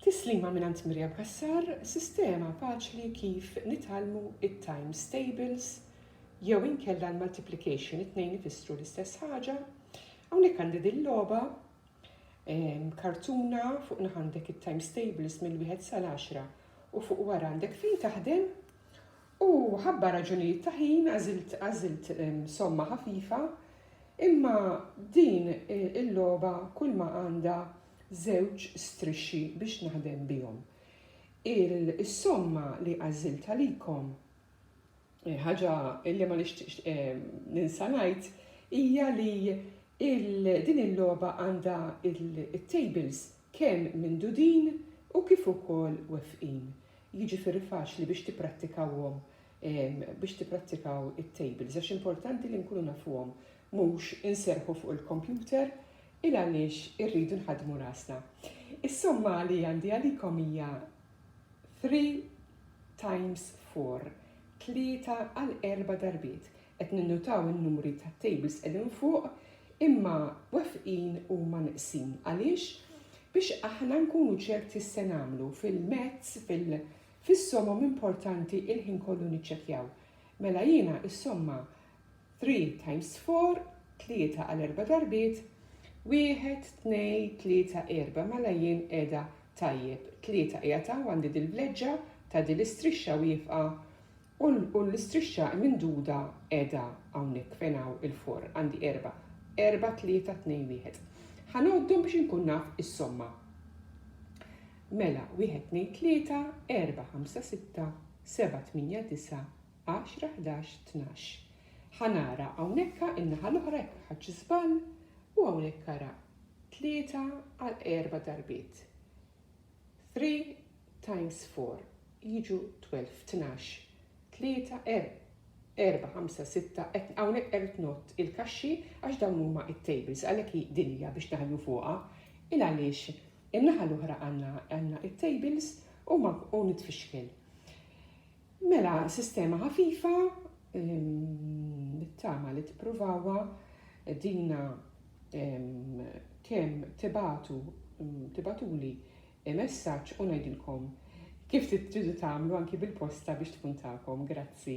Tislima mingħand Miriam Cassar, sistema faċli kif nitgħallmu it-times tables jew inkella l-multiplication it-tnejn ifissru l-istess ħaġa. Hawnhekk għandi din logħba kartuna fuq naħandek it-times tables mill-wieħed sal-10 u fuq wara għandek fejn taħdem U ħabba raġunijiet ta' ħin għażilt għażilt somma ħafifa, imma din il-logħba kulma għandha żewġ strixxi biex naħdem bihom. Is-somma li għażilt għalikom, ħaġa li ma nixtieqx ninsa ngħid, hija li din il-logħba għandha t-tables kemm minn dudin u kif ukoll wefqin, jiġifieri faċli biex tipprattikawhom biex tipprattikaw it-tables għax importanti li nkunu nafuhom mhux inserrħu fuq il-kompjuter il għaliex irridu nħaddmu rasna. Is-somma li għandi għalikom hija 3 times 4, tlieta għal erba' darbiet, Qed ninnutaw in-numri tat-tables qegħdin fuq imma wefqin huma neqsin. Għaliex? Biex aħna nkunu ċerti x'se nagħmlu fil-mezz, fil-, fis-somom importanti il-ħin kollu niċċekkjaw. Mela jiena is-somma 3 times 4, tlieta għal erba' darbiet, wieħed, tnej, tlieta, erba', mela jien qiegħda tajjeb. Tlieta qiegħed hawn għandi dil-vleġġa ta' dil-istrixxa wieqfa U l-istrixxa imnduda qiegħda hawnhekk fejn hawn il-forn, għandi erba'. Erba', tlieta, tnejn, wieħed. Ħa ngħoddhom biex inkun naf is-somma. Mela, wieħed, tnejn, tlieta, erba', ħamsa, sitta, seba', tmienja, disa', għaxra, ħdax, tnax. Ħa nara hawnhekk in-naħa l-oħra jekk ħadtx żball u hawnhekk ara tlieta għal erba' darbiet. Three, times four jiġu twelve, tnax, tlieta, erbgħa, ħamsa, sitta, qed hawnhekk qed ngħodd il-kaxxi għax dawn huma t-tables għalhekk hi din hija biex naħlu fuqha. Il għaliex in-naħa l-oħra għandna għandna it-tables u ma u nitfixkel. Mela sistema ħafifa nittama li tippruvawa dina kemm tibatu tibatuli il-messaġġ u ngħidilkom kif tridu tagħmlu anki bil-posta biex tkun tagħkom. Grazzi.